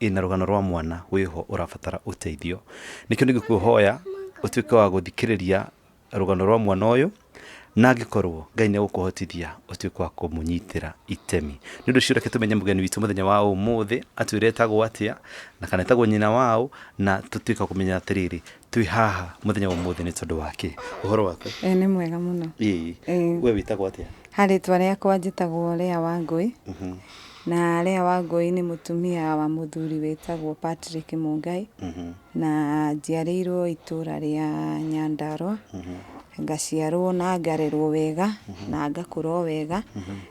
ĩna rũgano rwa mwana wĩho ũrabatara ũteithio nĩkĩo nĩngĩkũhoya ũtuĩke wa gũthikĩrĩria rũgano rwa mwana ũyũ na angĩkorwo ngai nĩ egũkũhotithia ũtuĩke wa kũmũnyitĩra itemi nĩ ũndũ ũcio reke tũmenye mũgeni witũ mũthenya wa ũmũthĩ atwĩre etagwo atĩa na kana etagwo nyina waũ na tũtuĩke wa kũmenya atĩrĩrĩ twĩ haha mũthenya wa ũmũthĩ nĩ tondũ wa kĩ ũhoro waku Eh, nĩ mwega mũno ĩĩ Eh. we wĩtagwo atĩa ha rĩtwa rĩakwa njĩtagwo Lea Wangũi Mhm, na Lea Wangũi nĩ mũtumia wa mũthuri wĩtagwo Patrick Mũngai mhm, na njiarĩirwo itũũra rĩa Nyandarua mhm. ngaciarwo na ngarerwo wega na ngakũra o wega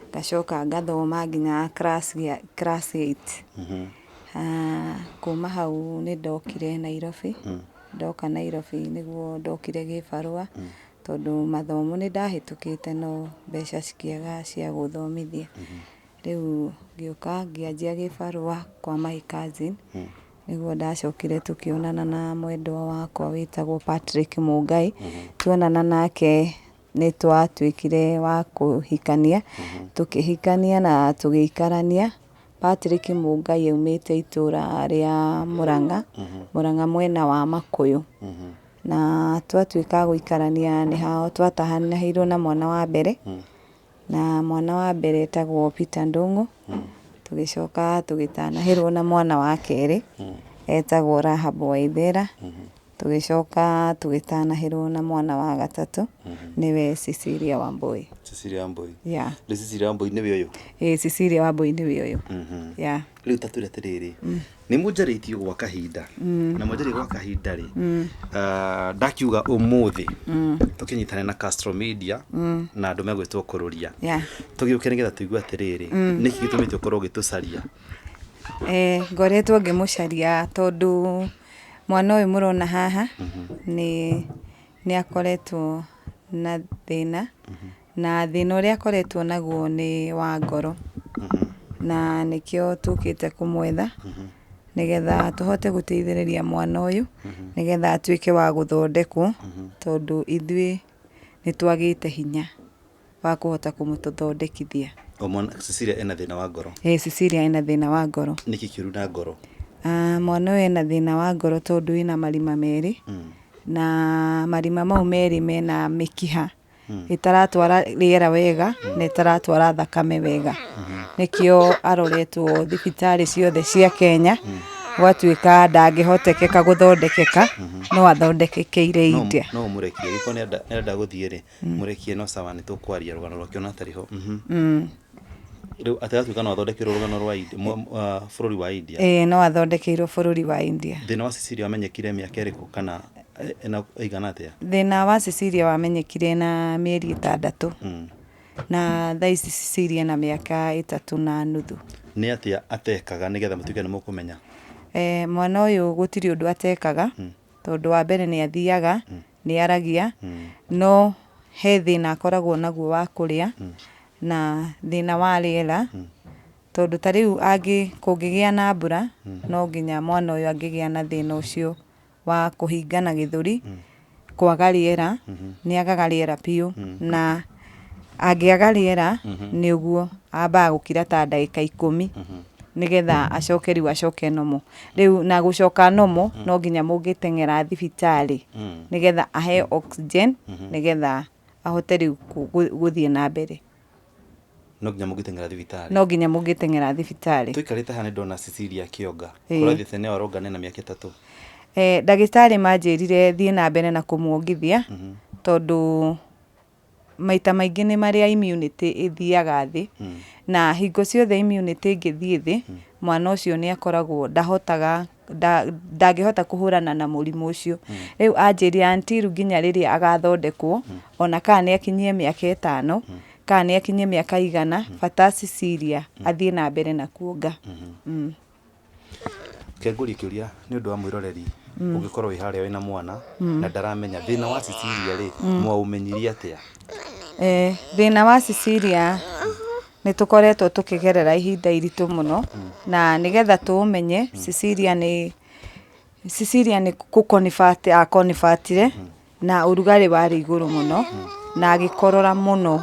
ngacoka ngathoma nginya class gĩa- class 8 Mhm. Kuma hau nĩ ndokire Nairobi, ndoka Nairobi nĩguo ndokire gĩbarũa, tondũ mathomo nĩ ndahĩtũkĩte no mbeca cikĩaga cia gũthomithia. Rĩu ngĩũka ngĩanjia gĩbarũa kwa my cousin, nĩguo ndacokire tũkĩonana na mwendwa wakwa wĩtagwo Patrick Mũngai. Tuonana nake nĩ twatuĩkire a kũhikania, tũkĩhikania na tũgĩikarania. Patrick Mũngai aumĩte itũra rĩa Mũrang'a, Mũrang'a mwena wa Makũyũ. Na twatuĩka a gũikarania nĩho twatahanĩirwo na mwana wa mbere, na mwana wa mbere etagwo Peter Ndũng'ũ. Tũgĩcoka tũgĩtanahĩrwo na mwana wa kerĩ, etagwo Rahab Waithera. Tũgĩcoka tũgĩtanahĩrwo na mwana wa gatatũ nĩwe Cecilia Wambũi. Cecilia Wambũi. Yeah. Rĩu Cecilia Wambũi nĩwe ũyũ. Ĩĩ Cecilia Wambũi nĩwe ũyũ. Yeah. Rĩu ta twĩre atĩrĩrĩ, nĩ mũnjarĩtie gwa kahinda na mwanjarĩtie gwa kahinda rĩ, ah, ndakiuga ũmũthĩ tũkĩnyitane na Castro Media na andũ megwĩtwo kũrũria Yeah. tũgĩũke nĩgetha tũigue atĩrĩrĩ nĩkĩ gĩtũmĩte ũkorwo ũgĩtũcaria Eh, ngoretwo ngĩmũcaria tondũ Mwana ũyũ mũrona haha nĩ nĩ akoretwo na thĩna, na thĩna ũrĩa akoretwo naguo nĩ wa ngoro. Na nĩkĩo tũkĩte kũmwetha, nĩgetha tũhote gũteithĩrĩria mwana ũyũ, nĩgetha atuĩke wa gũthondekwo, tondũ ithuĩ nĩ twagĩte hinya. wa kũhota kũmũtũthondekithia. O mwana, Cecilia ena thĩna wa ngoro. Ĩĩ Cecilia ena thĩna wa ngoro. Nĩkĩ kĩũru na ngoro? Ah, mwana ũyũ ena thĩna wa ngoro tondũ wĩna marima merĩ. Mm. Na marima mau merĩ mena mĩkiha mm. ĩtaratwara rĩera wega mm. na ĩtaratwara thakame wega. Mm -hmm. Nĩkĩo aroretwo thibitarĩ ciothe cia Kenya. Mm gwatuĩka ndangĩhotekeka gũthondekeka mm -hmm. no athondekekeire India no, no mũrekie gĩko nĩ enda gũthiĩ rĩ mũrekie no sawa nĩ tũkwaria rũgano rwake ona atarĩ ho mhm. mm. rĩu atagatuĩka no athondekerwo rũgano rwa uh, bũrũri wa india ĩĩ no athondekeirwo bũrũri wa india thĩna wa sicilia wamenyekire mĩaka ĩrĩkũ kana eh, ena ĩigana atĩa thĩna wa sicilia wamenyekire na mĩeri ĩtandatũ mm. na thaa ici sicilia na mĩaka ĩtatũ na nuthu nĩ atĩa atekaga nĩgetha mũtuĩke nĩ mũkũmenya eh, mwana ũyũ gũtirĩ ũndũ atekaga mm. tondũ wa mbere nĩ athiaga mm. nĩ aragia no he thĩna akoragwo naguo wa kũrĩa na thĩna wa rĩera tondũ ta rĩu angĩ kũngĩgĩa na mbura no nginya mwana ũyũ angĩgĩa na thĩna ũcio wa kũhingana gĩthũri kwaga rĩera nĩ agaga rĩera biũ na Angĩaga rĩera nĩ ũguo ambaga gũkira ta ndagĩka ikũmi nĩgetha acoke rĩu acoke nomo rĩu na gũcoka nomo no nginya mũngĩteng'era thibitarĩ nĩgetha aheo oxygen nĩgetha ahote rĩu kũ- gũ- gũthiĩ na mbere no nginya mũngĩteng'era thibitarĩ no nginya mũngĩteng'era thibitarĩ tũikarĩte haha nĩ ndona cecilia kĩonga Ĩĩ. kũrathiĩ thĩna ĩyo aronga nena mĩaka ĩtatũ Eh, ndagĩtarĩ manjĩrire thiĩ na mbere na kũmwongithia tondũ maita maingĩ nĩ marĩa immunity ĩthiaga thĩ, na hingo ciothe immunity ĩngĩthiĩ thĩ, mwana ũcio nĩ akoragwo ndahotaga ndangĩhota kũhũrana na mũrimũ ũcio. Rĩu anjĩria until nginya rĩrĩa agathondekwo, ona kana nĩ akinyie mĩaka ĩtano, kana nĩ akinyie mĩaka igana, bata Cecilia athiĩ na mbere na kuonga. Kengũrie kĩũria nĩ ũndũ wa mwĩroreri ũngĩkorwo wĩ harĩa wĩna mwana na ndaramenya thĩna wa Cecilia rĩ mwaũmenyirie atĩa? Ĩĩ thĩna wa Cecilia nĩ tũkoretwo tũkĩgerera ihinda iritũ mũno na nĩgetha tũũmenye Cecilia nĩ Cecilia nĩ kũ convert a convert -ire na ũrugarĩ warĩ igũrũ mũno na agĩkorora mũno.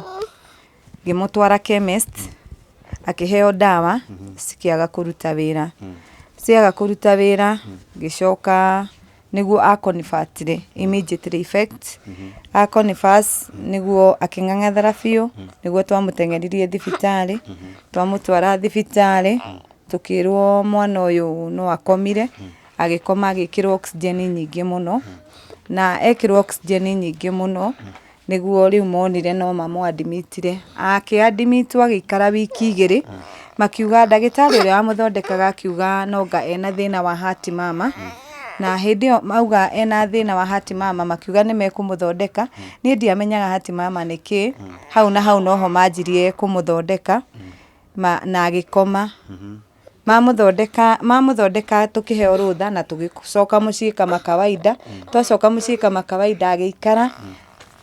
Ngĩmũtwara chemist, akĩheo ndawa, cikĩaga kũruta wĩra. Ciaga kũruta wĩra, ngĩcoka nĩguo a convert rĩ, immediately effect, a converse nĩguo akĩng'ang'athara biũ, nĩguo twamũteng'eririe thibitarĩ, twamũtwara thibitarĩ, tũkĩrwo mwana ũyũ no akomire, agĩkoma agĩkĩrwo oxygen nyingĩ mũno, na ekĩrwo oxygen nyingĩ mũno, nĩguo rĩu monire no mamũadimitire, akĩadimitwo agĩikara wiki igĩrĩ, makiuga ndagĩtarĩ ũrĩa wamũthondekaga akiuga noanga ena thĩna wa heart mama, na hĩndĩ ĩyo mauga ena thĩna wa heart mama makiuga nĩmekũmũthondeka, niĩ ndiamenyaga heart mama nĩ kĩĩ, hau na hau noho manjirie kũmũthondeka, na agĩkoma. mamũthondeka mamũthondeka tũkĩheo rũtha na tũgĩcoka mũciĩ kama kawaida twacoka mũciĩ kama kawaida agĩikara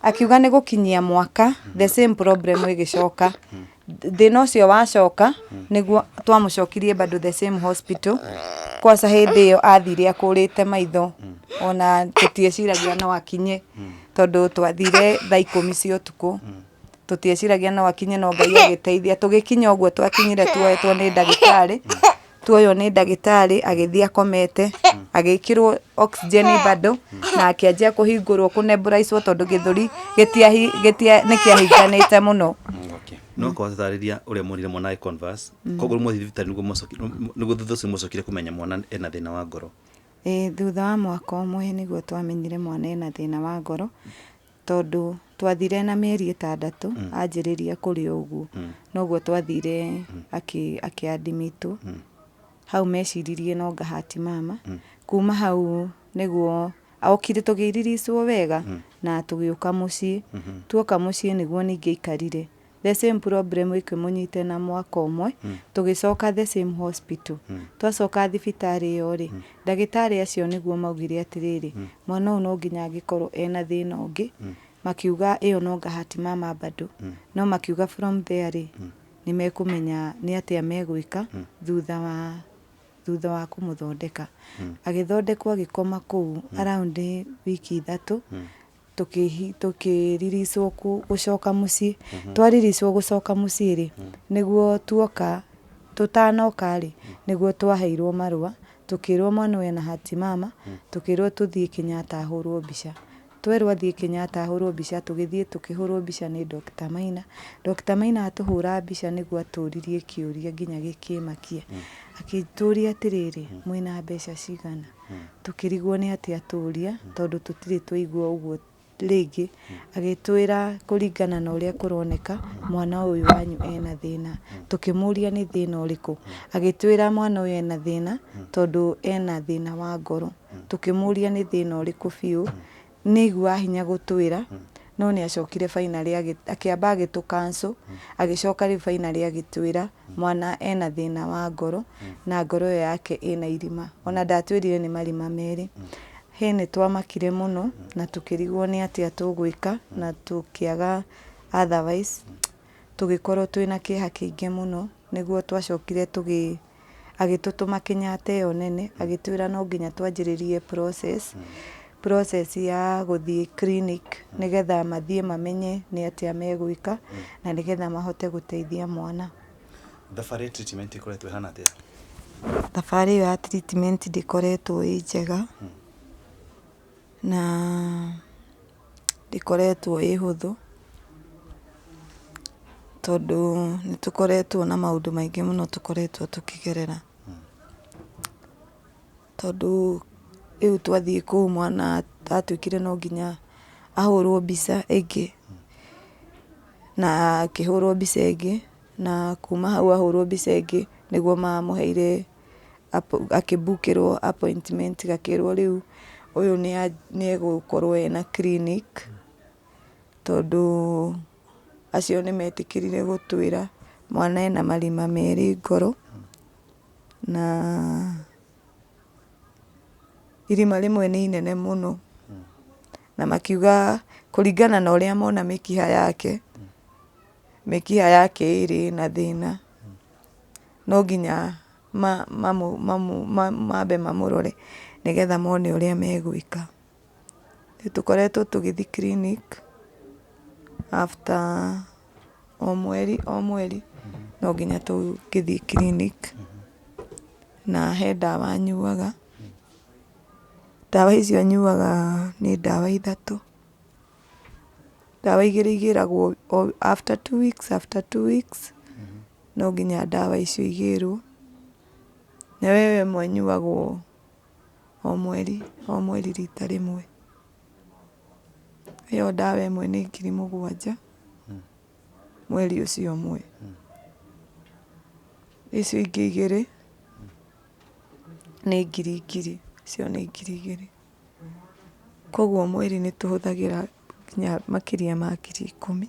akiuga nĩ gũkinyia mwaka the same problem ĩgĩcoka thĩna ũcio wacoka nĩguo twamũcokirie bado the same hospital kwaca hĩndĩ ĩyo athire akũrĩte maitho ona tũtieciragia no akinye tondũ twathire thaa ikũmi cia ũtukũ tũtieciragia no akinye no ngai agĩteithia tũgĩkinya ũguo twakinyire tuoetwo nĩ ndagĩtarĩ tuoywo nĩ ndagĩtarĩ agĩthiĩ akomete agĩkĩrwo oxygen bado na akĩanjia kũhingũrwo kũnembũraicwo tondũ gĩthũri gĩtiahi- gĩtia- nĩ kĩahinganĩte mũno Okay. no korwo tatarĩria ũrĩa mwonire mwana agĩ converse koguo mwathi thibitarĩ nĩguo mwacoki- nĩguo thutha ũcio mwacokire kũmenya mwana ena thĩna wa ngoro Ĩĩ, thutha wa mwaka ũmwe nĩguo twamenyire mwana ena thĩna wa ngoro Tondũ twathire na mĩeri ĩtandatũ anjĩrĩria kũrĩ o ũguo, noguo twathire akĩ admit hau meciririe no ngahati mama, kuma hau nĩguo okire tũgĩ release wo wega na tũgĩũka mũciĩ, tuoka mũciĩ nĩguo ningĩ aikarire. the same problem ĩkĩmũnyita ĩna mwaka ũmwe, tũgĩcoka the same hospital. Twacoka thibitarĩ ĩyo rĩ, ndagĩtarĩ acio nĩguo maugire atĩrĩrĩ, mwana ũyũ no nginya angĩkorwo ena thĩna ũngĩ, makiuga ĩyo no ngahati mama bado. No makiuga from there rĩ, nĩ mekũmenya nĩ atĩa megwĩka thutha wa thutha wa kũmũthondeka. Agĩthondekwo agĩkoma kũu around wiki ithatũ, tũkĩriricwo gũcoka mũciĩ twariricwo gũcoka mũciĩ rĩ nĩguo tuoka tũtanoka rĩ nĩguo twaheirwo marũa tũkĩrwo mwana ũyũ ena hati mama tũkĩrwo tũthiĩ Kenyatta ahũrwo mbica twerwo athiĩ Kenyatta ahũrwo mbica tũgĩthiĩ tũkĩhũrwo mbica nĩ Dr. Maina Dr. Maina atũhũra mbica nĩguo atũririe kĩũria nginya gĩkĩmakia akĩtũria atĩrĩrĩ mwĩna mbeca cigana tũkĩrigwo nĩ atĩ atũria tondũ tũtirĩ twaigua ũguo rĩngĩ agĩtwĩra kũringana na ũrĩa kũroneka mwana ũyũ wanyu ena thĩna tũkĩmũria nĩ thĩna ũrĩkũ agĩtwĩra mwana ũyũ ena thĩna tondũ ena thĩna wa ngoro tũkĩmũria nĩ thĩna ũrĩkũ biũ nĩ aiguaga hinya gũtwĩra no nĩ acokire finally agĩ- akĩamba agĩtũ cancel agĩcoka rĩu finally agĩtwĩra mwana ena thĩna wa ngoro na ngoro ĩyo yake ĩna irima ona ndatwĩrire nĩ marima merĩ he nĩ twamakire mũno na tũkĩrigwo nĩ atĩa tũgwĩka na tũkĩaga otherwise tũgĩkorwo twĩna kĩeha kĩingĩ mũno nĩguo twacokire tũgĩ agĩtũtũma Kenyatta ĩyo nene agĩtwĩra no nginya twanjĩrĩrie process, process ya gũthiĩ clinic nĩgetha mathiĩ mamenye nĩ atĩa megwĩka na nĩgetha mahote gũteithia mwana. Thabarĩ ya treatment ĩkoretwo ĩhana atĩa? Thabarĩ ĩyo ya treatment ndĩkoretwo ĩ njega na... ndĩkoretwo ĩ hũthũ, tondũ nĩ tũkoretwo na maũndũ maingĩ mũno tũkoretwo tũkĩgerera. Tondũ rĩu twathiĩ kũu mwana atuĩkire no nginya ahũrwo mbica ĩngĩ, na akĩhũrwo mbica ĩngĩ, na kuma hau ahũrwo mbica ĩngĩ nĩguo mamũheire. gakĩbukĩrwo appointment gakĩrwo rĩu ũyũ nĩ egũkorwo ena clinic tondũ acio nĩ metĩkĩrire gũtwĩra mwana ena marima merĩ ngoro na irima rĩmwe nĩ inene mũno na makiuga kũringana na ũrĩa mona mĩkiha yake, mĩkiha yake ĩrĩ na thĩna. no nginya mambe mamũrore nĩgetha mone ũrĩa megwĩka. Nĩ tũkoretwo tũgĩthiĩ clinic after o mweri o mweri no nginya tũngĩthiĩ clinic na he ndawa nyuaga. Ndawa icio nyuaga nĩ ndawa ithatũ. Ndawa igĩrĩ igĩragwo after two weeks after two weeks. no nginya ndawa icio igĩrwo, na we we mwene ũnyuaga o mweri o mweri rita rĩmwe. Ĩyo ndawa ĩmwe nĩ ngiri mũgwanja mweri ũcio ũmwe. Icio ingĩ igĩrĩ nĩ ngiri ngiri, icio nĩ ngiri igĩrĩ. Koguo mweri nĩ tũhũthagĩra nginya makĩria ma ngiri ikũmi.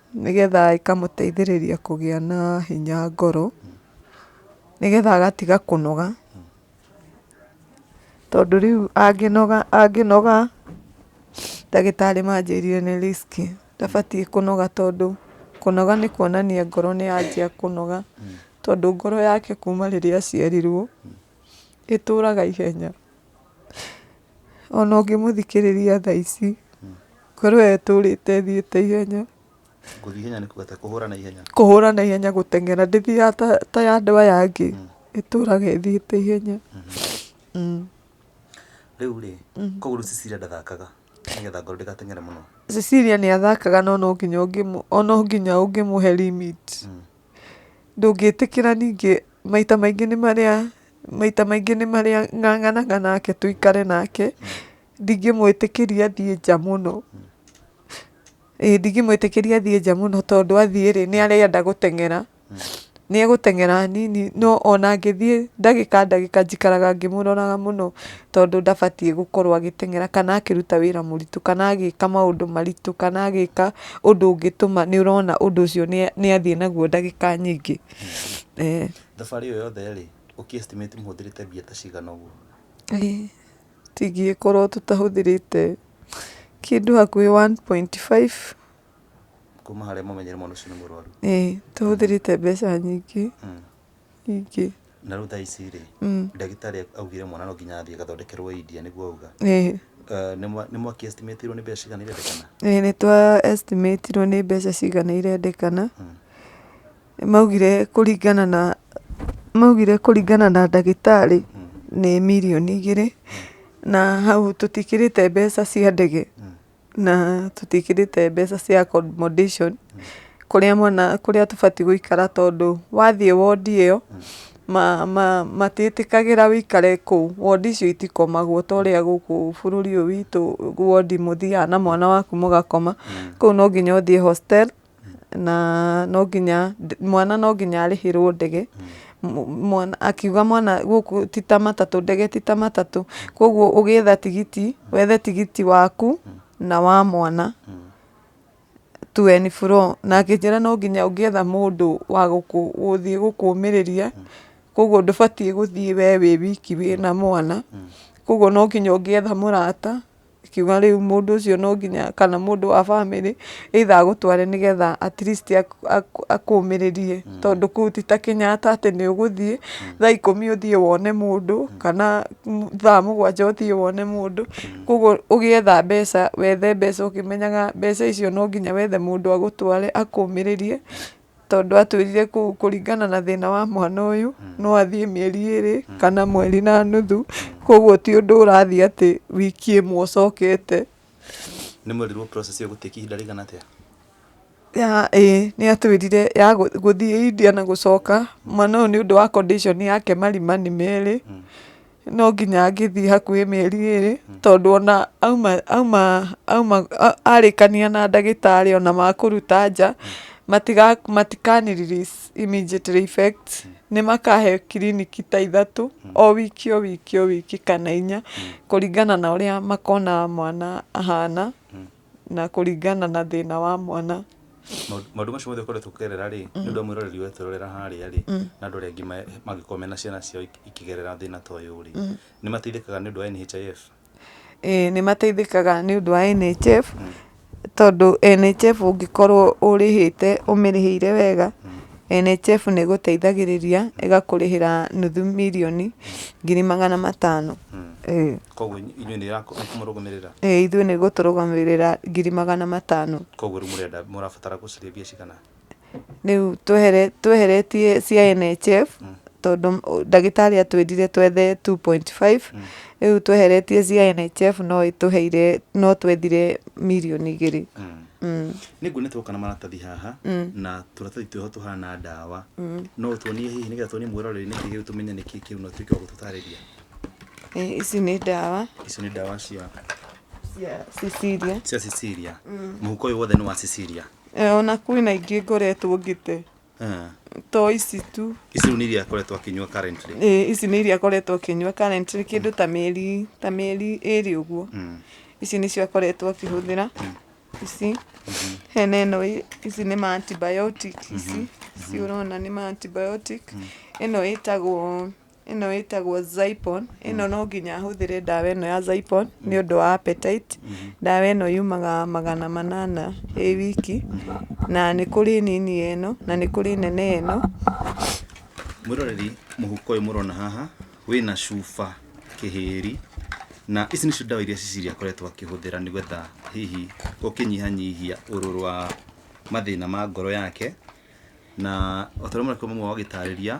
Nĩgetha ĩkamũteithĩrĩria kũgĩa na hinya ngoro, nĩgetha agatiga kũnoga, tondũ rĩu angĩnoga angĩnoga ndagĩtarĩ manjĩrire nĩ risk ndabatiĩ kũnoga tondũ kũnoga nĩ kuonania ngoro nĩ yanjia kũnoga, tondũ ngoro yake kuma rĩrĩa aciarirwo. ĩtũraga ihenya. Ona ũngĩmũthikĩrĩria thaa ici, ngoro ĩyo ĩtũrĩte ĩthiĩte ihenya. Gũthiĩ ihenya nĩ kuga kũhũra na ihenya. Kũhũra na ihenya gũteng'era, ndĩthiaga ta ya andũ aya angĩ, mm. ĩtũraga ĩthiĩte ihenya. Mm-hmm. Mm. Rĩu rĩ, mm. koguo rĩu Cecilia ndathakaga nĩgetha ngoro ndĩgateng'ere mũno. Cecilia nĩ athakaga no no nginya ũngĩmũ, no nginya ũngĩmũhe limit. Ndũngĩtĩkĩra ningĩ maita maingĩ nĩ marĩa maita maingĩ nĩ marĩa ng'ang'anaga nake tũikare nake, ndingĩmwĩtĩkĩria athiĩ nja mũno. Ĩĩ ndingĩmwĩtĩkĩria athiĩ nja mũno tondũ athiĩ rĩ, nĩ arenda gũteng'era. Nĩ egũteng'era hanini no ona angĩthiĩ ndagĩka ndagĩka njikaraga ngĩmũroraga mũno. tondũ ndabatiĩ gũkorwo agĩteng'era kana akĩruta wĩra mũritũ kana agĩka maũndũ maritũ kana agĩka ũndũ ũngĩtũma nĩ ũrona ũndũ ũcio nĩ athiĩ naguo ndagĩka nyingĩ. Thabarĩ ĩyo yothe rĩ, ũkĩ estimate mũhũthĩrĩte mbia ta cigana ũguo? Tingĩgĩkorwo tũtahũthĩrĩte kĩndũ hakuhĩ one point five. Kuma harĩa mũmenyere mwana ũcio nĩ mũrwaru? Ĩĩ tũhũthĩrĩte mbeca nyingĩ. ingĩ. Na rĩu thaa ici rĩ, ndagĩtarĩ augire mwana no nginya athiĩ agathondekerwo India nĩguo auga? Ĩĩ. Nĩ mwa, nĩ mwaki estimate irwo nĩ mbeca cigana irendekana? Ĩĩ nĩ twa estimate irwo nĩ mbeca cigana irendekana. Maugire kũringana na, maugire kũringana na ndagĩtarĩ nĩ mirioni igĩrĩ, na hau tũtikĩrĩte mbeca cia ndege. na tũtiĩkĩrĩte mbeca cia accommodation kũrĩa mwana, kũrĩa tũbatiĩ gũikara tondũ wathiĩ wondi ĩyo, matiĩtĩkagĩra ũikare kũu. Wondi icio itikomagwo ta ũrĩa gũkũ bũrũri ũyũ witũ wondi mũthiaga na mwana waku mũgakoma, kũu no nginya ũthiĩ hostel. na no nginya mwana no nginya arĩhĩrwo ndege akiuga mwana gũkũ ti ta matatũ ndege ti ta matatũ koguo ũgĩetha tigiti wethe tigiti waku na wa mwana to and fro na akĩnjĩra no nginya ũngĩetha mũndũ wa gũthiĩ gũkũmĩrĩria koguo ndũbatiĩ gũthiĩ we wĩ wiki wĩna mwana koguo no nginya ũngĩetha mũrata. Ingiuga rĩu mũndũ ũcio no nginya kana mũndũ wa bamĩrĩ either agũtware nĩ getha at least akũmĩrĩrie. Tondũ kũu ti ta Kenyatta atĩ nĩ ũgũthiĩ thaa ikũmi ũthiĩ wone mũndũ kana thaa mũgwanja ũthiĩ wone mũndũ. Kwoguo ũgĩetha mbeca wethe mbeca ũkĩmenyaga mbeca icio no nginya wethe mũndũ agũtware akũmĩrĩrie. tondũ atwĩrire kũringana na thĩna wa mwana ũyũ mm. no athiĩ mĩeri ĩrĩ mm. kana mweri na nuthu mm. koguo ti ũndũ ũrathiĩ atĩ wiki ĩmwe ũcokete nĩ mwerirwo process ĩyo gũtĩki ihinda rĩigana atĩa ya ĩĩ nĩ atwĩrire ya gũthiĩ India na gũcoka mwana ũyũ nĩ ũndũ wa condition yake marima nĩ merĩ mm. no nginya angĩthiĩ hakuhĩ mĩeri ĩrĩ hmm. tondũ ona auma auma auma arĩkania na ndagĩtarĩ ona makũruta nja hmm. matikaniriri immediately effect hmm. nĩ makahe kiriniki ta ithatũ o wiki o wiki o wiki kana inya kũringana na ũrĩa makona mwana ahana na kũringana na thĩna wa mwana. Maũndũ maũndũ macio mothe ũkoretwo ũkĩgerera rĩ nĩ ũndũ wa mwĩroreri ũyũ twĩrorera harĩa rĩ na andũ arĩa angĩ ma- mangĩkorwo mena ciana ciao ikĩ- ikĩgerera thĩna ta ũyũ rĩ nĩ mateithĩkaga nĩ ũndũ wa NHIF? Ĩĩ nĩ mateithĩkaga nĩ ũndũ wa NHIF tondũ NHIF ũngĩkorwo ũrĩhĩte ũmĩrĩhĩire wega NHIF nĩ ĩgũteithagĩrĩria ĩgakũrĩhĩra nuthu mirioni ngiri magana matano. Ĩĩ. Koguo inyuĩ nĩ ĩrakũmũrũgamĩrĩra? Ĩĩ ithuĩ nĩ ĩgũtũrũgamĩrĩra ngiri magana matano. Koguo rĩu mũrenda mũrabatara gũcaria mbia cigana? Rĩu tweheretie cia NHIF tondũ ndagĩtarĩ atwĩrire twethe 2.5 rĩu tweheretie cia NHIF no ĩtũheire no twethire mirioni igĩrĩ. nĩ nguona twoka na maratathi haha na tũratathi twĩho tũhana ndawa no ũtuonie hihi nĩgetha tuonie mwĩroreri nĩkĩ kĩu tũmenye nĩkĩ kĩu na ũtuĩke wa gũtũtarĩria Eh, ici nĩ ndawa icio nĩ ndawa cia cia Cecilia. cia Cecilia mũhuko ũyũ wothe nĩ wa Cecilia Eh, ona kwĩna ingĩ ngoretwo ngĩte Ah, to ici tu ici rĩu nĩ iria akoretwo akĩnyua currently Ĩ, ici nĩ iria akoretwo akĩnyua currently kĩndũ ta mĩeri ta mĩeri ĩrĩ ũguo Mm. ici nĩcio akoretwo akĩhũthĩra ici hena ĩno ĩ- ici nĩ ma antibiotic ici ici ũrona nĩ ma antibiotic ĩno ĩtagwo ĩno ĩtagwo Zypon, ĩno mm. no nginya hũthĩre ndawa ĩno ya Zypon nĩ mm. ũndũ wa appetite. Mm-hmm. Ndawa ĩno yumaga magana manana ĩ wiki, mm-hmm. na nĩ kũrĩ nini ĩno na nĩ kũrĩ nene ĩno. Mwĩroreri mũhuko ũyũ mũrona haha wĩna cuba kĩhĩri na ici nĩcio ndawa iria Cecilia akoretwo akĩhũthĩra nĩgetha hihi gũkĩnyihanyihia ũrũrũ wa mathĩna ma ngoro yake na otorĩa mũrakorwo mũmwe wagĩtarĩria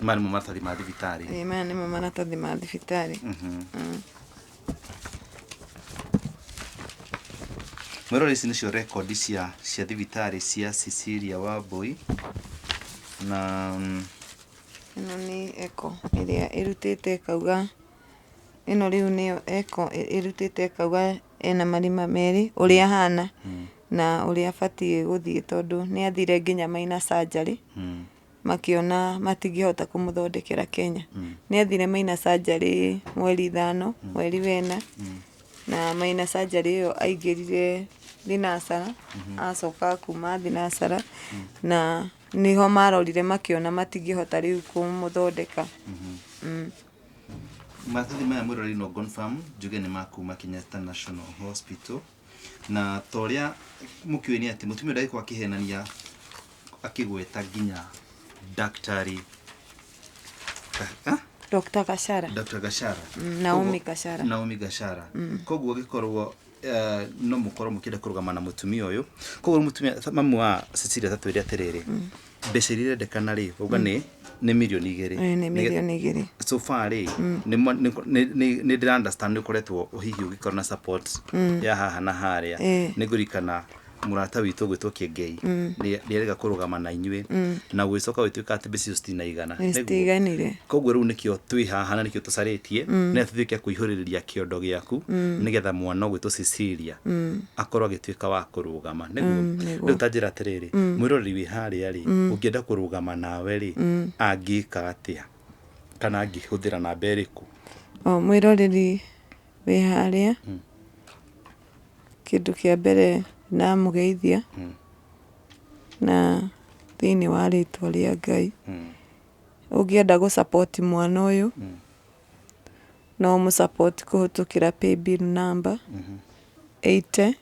maya nĩmo maratathi ma thibitarĩ Ĩĩ, maya nĩmo maratathi ma thibitarĩ mwĩrore ici nĩcio rekondi cia cia thibitarĩ cia Cecilia Wambui na mm, ĩno nĩ eko ĩrĩa ĩrutĩte ĩkauga ĩno rĩu nĩyo eko ĩ- ĩrutĩte ĩkauga ena marima merĩ ũrĩa ahana na ũrĩa abatiĩ gũthiĩ tondũ nĩ athire nginya maina surgery mm, makĩona matingĩhota kũmũthondekera Kenya. Nĩ athire maina surgery mweri ithano, mweri wena, na maina surgery ĩyo aingĩrire thinacara, acoka kuma thinacara, na nĩho marorire makĩona matingĩhota rĩu kũmũthondeka. Mm. Maratathi maya mwĩrorei no confirm njuge nĩ ma kuma Kenyatta National Hospital. na ta ũrĩa mũkĩũĩ nĩ atĩ mũtumia ndagĩkorwo akĩhenania akĩgweta nginya daktari Ka- ah? Dr. Gashara. Dr. Gashara Mm, Naomi Koguo- Gashara. Naomi Gashara koguo gĩkorwo eh, no mũkorwo mũkĩenda kũrũgama na mũtumia ũyũ koguo mũtumia mamu wa Cecilia tatwĩre atĩrĩrĩ mbeca iria irendekana rĩ uga nĩ nĩ mirioni igĩrĩ Eh, nĩ Nĩge- mirioni igĩrĩ so far rĩ nĩ mo- nĩ- nĩ- nĩ- nĩ ndĩra understand nĩ ũkoretwo hihi ũgĩkorwo na support ya haha na harĩa Eh. nĩ ngũrikana mũrata witũ gwĩtwo kĩengei nĩ nĩ arega kũrũgama na inyuĩ na gũgĩcoka gũgĩtuĩka atĩ mbeca icio citinaigana Nĩguo. citiganire koguo rĩu nĩkĩo twĩ haha na nĩkĩo tũcarĩtie nĩgetha tũtuĩke kũihũrĩrĩria kĩondo gĩaku nĩgetha mwana ũgwĩtwo Cecilia akorwo agĩtuĩka wa kũrũa kũrũgama, nĩguo? Mm, nĩguo. Rĩu ta njĩra atĩrĩrĩ, mm. mwĩroreri wĩ harĩa rĩ, mm. ũngĩenda kũrũgama nawe rĩ, mm. angĩka atĩa? Kana angĩhũthĩra namba ĩrĩkũ? O, mwĩroreri wĩ harĩa, mm. kĩndũ kĩa mbere namũgeithia, mm. na thĩinĩ wa rĩtwa rĩa Ngai, mm. ũngĩenda gũ support mwana ũyũ, mm. no mũsupport kũhĩtũkĩra paybill number, mm -hmm. 80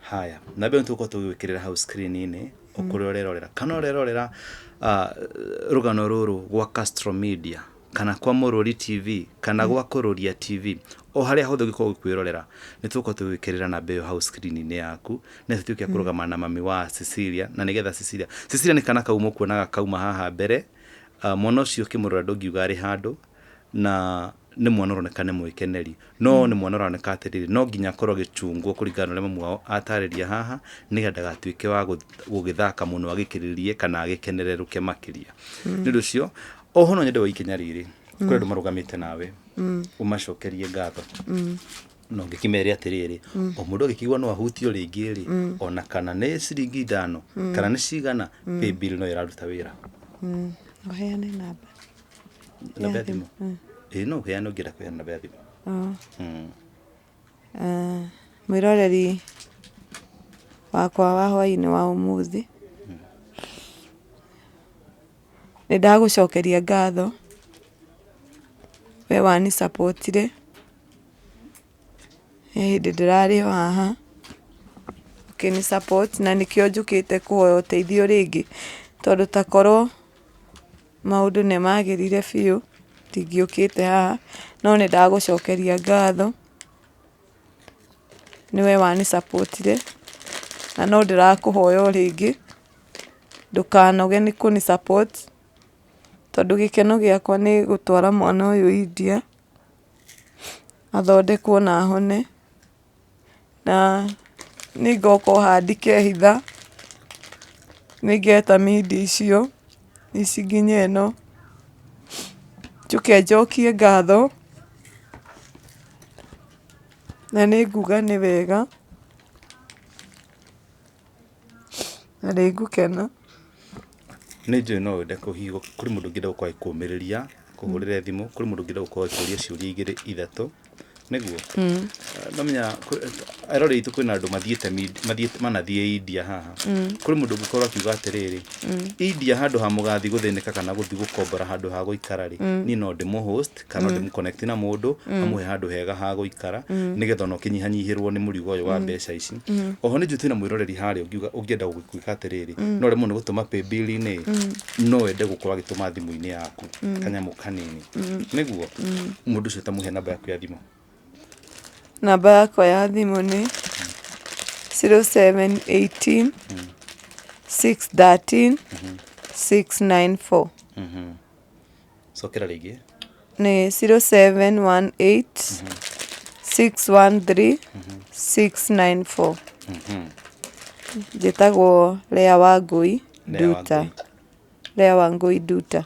Haya, na mbere nĩtũgũkorwo tũgĩgwĩkĩrĩra hau screen-inĩ ũkũrĩa ũrerorera kana ũrerorera ah, rũgano rũrũ gwa Castro Media kana kwa Mũrũri TV kana gwa Kũrũria TV o harĩa hothe ũngĩkorwo ũgĩkwĩrorera nĩtũgũkorwo tũgĩgwĩkĩrĩra namba ĩyo hau screen-inĩ yaku na tũtuĩke a kũrũgama na mami wa Cecilia na nĩgetha Cecilia Cecilia nĩ kana kau mũkuonaga kauma haha mbere Ah, mwana ũcio ũkĩmũrora ndũngiuga arĩ handũ na nĩ mwana ũroneka nĩ mwĩkeneri no nĩ mwana ũroneka atĩrĩrĩ no nginya akorwo agĩchungwo kũringana na ũrĩa mamu wao atarĩria haha nĩgetha ndagatuĩke wa gũ- gũgĩthaka mũno agĩkĩrĩrie kana agĩkenererũke makĩria nĩ ũndũ ũcio oho no nyende wa ikinya rĩrĩ kũrĩ andũ marũgamĩte nawe ũmacokerie ngatho na ũngĩkĩmere atĩrĩrĩ o mũndũ agĩkĩigua no ahutio rĩngĩ rĩ ona kana nĩ ciringi ithano kana nĩ cigana paybill no ĩraruta wĩra Ũheane namba. namba ya thimũ ĩĩ no ũheane ũngĩenda kũheana namba ya thimũ Oo. Mm. Ah, mwĩroreri wakwa wa hwainĩ wa ũmũthĩ nĩ ndagũcokeria ngatho we wanisapotire he hĩndĩ ndĩrarĩ o haha ũkĩnisapoti na nĩkĩo njũkĩte kũhoya ũteithio rĩngĩ tondũ takorwo Maũndũ nĩ magĩrire biũ, ndingĩũkĩte haha, no nĩ ndagũcokeria ngatho, nĩwe wanĩ support -ire, na no ndĩrakũhoya o rĩngĩ, ndũkanoge nĩ kũnĩ support, tondũ gĩkeno gĩakwa nĩ gũtwara mwana ũyũ India, athondekwo na ahone. na nĩngoka o haha ndikehitha, nĩngeta mindia icio, ici nginya ĩno, njũke njokie ngatho, na nĩnguga nĩ wega. na nĩ ngũkena. Nĩ njũĩ no wende kũhihinywo, kũrĩ mũndũ ũngĩenda gũkorwo agĩkũũmĩrĩria, akũhũrĩre thimũ, kũrĩ mũndũ ũngĩenda gũkorwo agĩkũũria ciũria igĩrĩ ithatũ, nĩguo? Nĩ ũramenya eroreri aitũ kwĩna andũ mathiĩte mathiĩte manathiĩ India haha. Kũrĩ mũndũ ũngĩkorwo akiuga atĩrĩrĩ, India handũ ha mũgathiĩ gũthĩnĩka kana gũthiĩ gũkombora handũ ha gũikara-rĩ, niĩ no ndĩmũ host. connect kana mm. ndĩmũ connect na mũndũ mm. amũhe handũ hega ha gũikara mm. nĩgetha ona ũkĩnyihanyihĩrwo nĩ mũrigo ũyũ wa mm. mbeca ici mm. oho nĩ njũtĩ na mwĩroreri harĩa ũngiuga ũngĩenda gwĩka atĩrĩrĩ mm. no remwo nĩ gũtũma paybill-inĩ mm. no wende gũkorwo agĩtũma thimũ-inĩ yaku mm. kanyamũ kanini mm. nĩguo mm. mũndũ ũcio tamũhe namba yaku ya thimũ namba yakwa ya thimũ nĩ 0718 mm. 613 mm -hmm. 694 mm -hmm. cokera rĩngĩ nĩ 0718 613 694 njĩtagwo Lea wa Ngũi Lea wa Nduta Ngũi. Lea wa Ngũi Nduta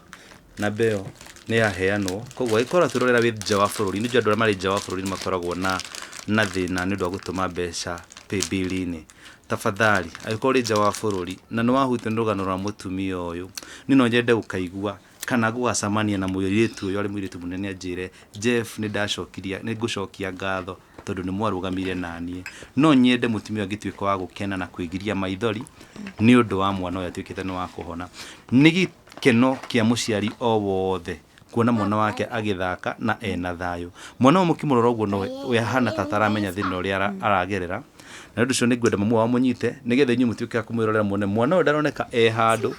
namba ĩyo nĩ yaheanwo koguo angĩkorwo twĩrorera wĩ nja wa bũrũri nĩ njũ andũ arĩa marĩ nja wa bũrũri nĩ makoragwo na na thĩna nĩ ũndũ wa gũtũma mbeca paybill-inĩ tafadhali angĩkorwo ũrĩ nja wa bũrũri na nĩ wahutio nĩ rũgano rwa mũtumia ũyũ niĩ no nyende gũkaigua kana gũgacamania na mũirĩtu ũyũ arĩ mũirĩtu mũnene anjĩre, Jeff nĩ ndacokiria, nĩ ngũcokia ngatho tondũ nĩ mwarũgamire na niĩ. No nyende mũtumia ũyũ angĩtuĩka wa gũkena na kwĩgiria maithori nĩ ũndũ wa mwana ũyũ atuĩkĩte nĩ wa kũhona. Nĩ gĩkeno kĩa mũciari o wothe kuona mwana wake agĩthaka na ena thayũ. Mwana ũyũ mũkĩmũrora ũguo no we ahana ta ataramenya thĩna ũrĩa ara- aragerera, na nĩ ũndũ ũcio nĩ ngwenda mamu wao amũnyite nĩ getha inyuĩ mũtuĩke a kũmwĩrorera muone mwana ũyũ ndaroneka e handũ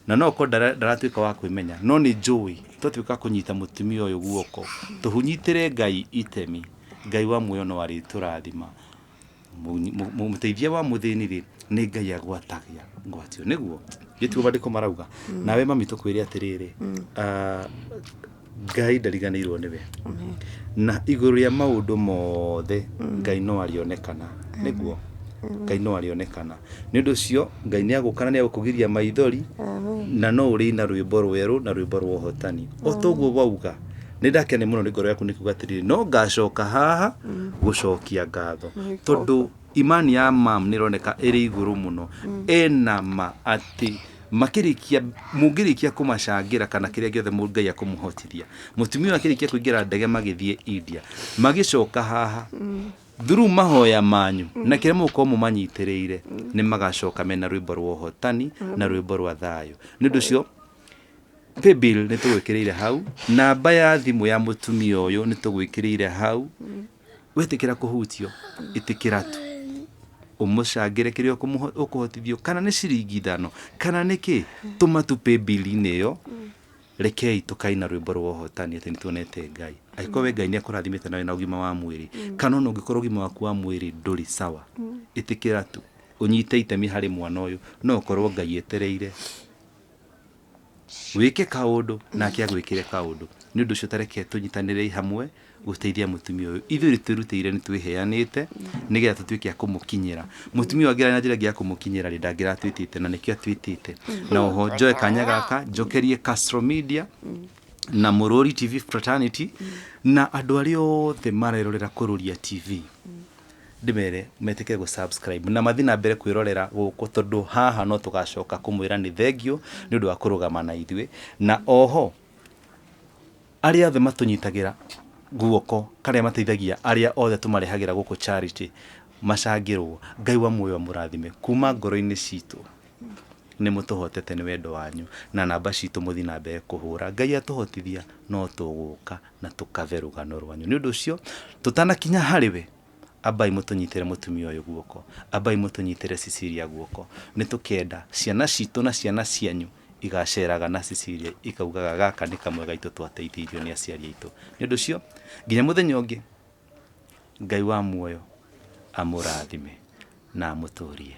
na no ũkorwo ndara- ndaratuĩka wa kwĩmenya no nĩ njũĩ twatuĩka kũnyita mũtumia ũyũ guoko tũhunyitĩre ngai itemi ngai wa muoyo no arĩtũrathima Mũnyi- mũ- mũ- mũteithia wa mũthĩni rĩ nĩ ngai agwatagia ngwatio nĩguo gĩtuo mandĩko marauga nawe mami tũkwĩre atĩrĩrĩ ah, ngai ndariganĩirwo nĩwe na igũrũ rĩa maũndũ mothe ngai no arĩonekana nĩguo ngai no arĩonekana nĩ ũndũ ũcio ngai nĩ agũkana nĩ agũkũgiria maithori na no ũrĩ na rwĩmbo rwerũ na rwĩmbo rwa ũhotani o toguo wauga nĩ ndakene mũno nĩ ngoro yaku nĩ kuga atĩrĩrĩ no ngacoka haha gũcokia ngatho tondũ Imani ya mam nĩroneka ĩrĩ igũrũ mũno ena ma atĩ makĩrĩkia mũngĩrĩkia kũmacangĩra kana kĩrĩa gĩothe mũ- ngai akũmũhotithia mũtumia ũyũ akĩrĩkia kũingĩra ndege magĩthiĩ india magĩcoka haha thuru mahoya manyu na kĩrĩa mũgũkorwo mũmanyitĩrĩire nĩ magacoka mena rwĩmbo rwa ũhotani na rwĩmbo rwa thayũ nĩ ũndũ ũcio paybill nĩ tũgwĩkĩrĩire hau namba ya thimũ ya mũtumia ũyũ nĩ tũgwĩkĩrĩire hau Wetĩkĩra kũhutio, ĩtĩkĩra tu. Ũmũcangĩre kĩrĩa ũkũmũho- ũkũhotithio, kana nĩ ciringi ithano, kana nĩ kĩ, tũma tu paybill-inĩ ĩyo, rekei tũkaina rwĩmbo rwa ũhotani atĩ nĩtuonete Ngai. Angĩkorwo we Ngai nĩakũrathimĩte na wĩna ũgima wa mwĩrĩ, kana ona ũngĩkorwo ũgima waku wa mwĩrĩ ndũrĩ sawa, ĩtĩkĩra tu, ũnyite itemi harĩ mwana ũyũ, no ũkorwo Ngai etereire. Wĩke kaũndũ, nake agwĩkĩre kaũndũ. Nĩ ũndũ ũcio ta reke tũnyitanĩrei hamwe gũteithia mũtumia ũyũ. Ithuĩ nĩ twĩrutĩire, nĩ twĩheanĩte nĩ getha tũtuĩke a kũmũkinyĩra. Mũtumia ũyũ angĩrarĩ na njĩra ĩngĩ ya kũmũkinyĩra rĩ, ndangĩratwĩtĩte na nĩkĩo atwĩtĩte. Na oho njoe kanya gaka njokerie Castro Media na Mũrũri TV Fraternity na andũ arĩa othe marerorera Kũrũria TV. ndĩmere metĩkĩre gũ subscribe na mathiĩ na mbere kwĩrorera gũkũ tondũ haha no tũgacoka kũmwĩra nĩ thengiũ nĩ ũndũ wa kũrũgama na ithuĩ na oho arĩa othe matũnyitagĩra guoko karĩa mateithagia arĩa othe tũmarehagĩra gũkũ charity macangĩrwo ngai wa muoyo amũrathime kuma ngoro-inĩ citũ Nĩmũtũhotete nĩ wendo wanyu na namba citũ mũthiĩ na mbere kũhũra. Ngai atũhotithia no tũgũka na tũkave rũgano rwanyu. Nĩ ũndũ ũcio tũtanakinya harĩ we, ambai mũtũnyitĩre mũtumia ũyũ guoko, ambai mũtũnyitĩre Cecilia guoko. Nĩtũkenda ciana citũ na ciana cianyu igaceraga na Cecilia ikaugaga gaka nĩ kamwe gaitũ twateithĩirio nĩ aciari aitũ. Nĩ ũndũ ũcio nginya mũthenya ũngĩ. Ngai wa muoyo amũrathime na amũtũrie.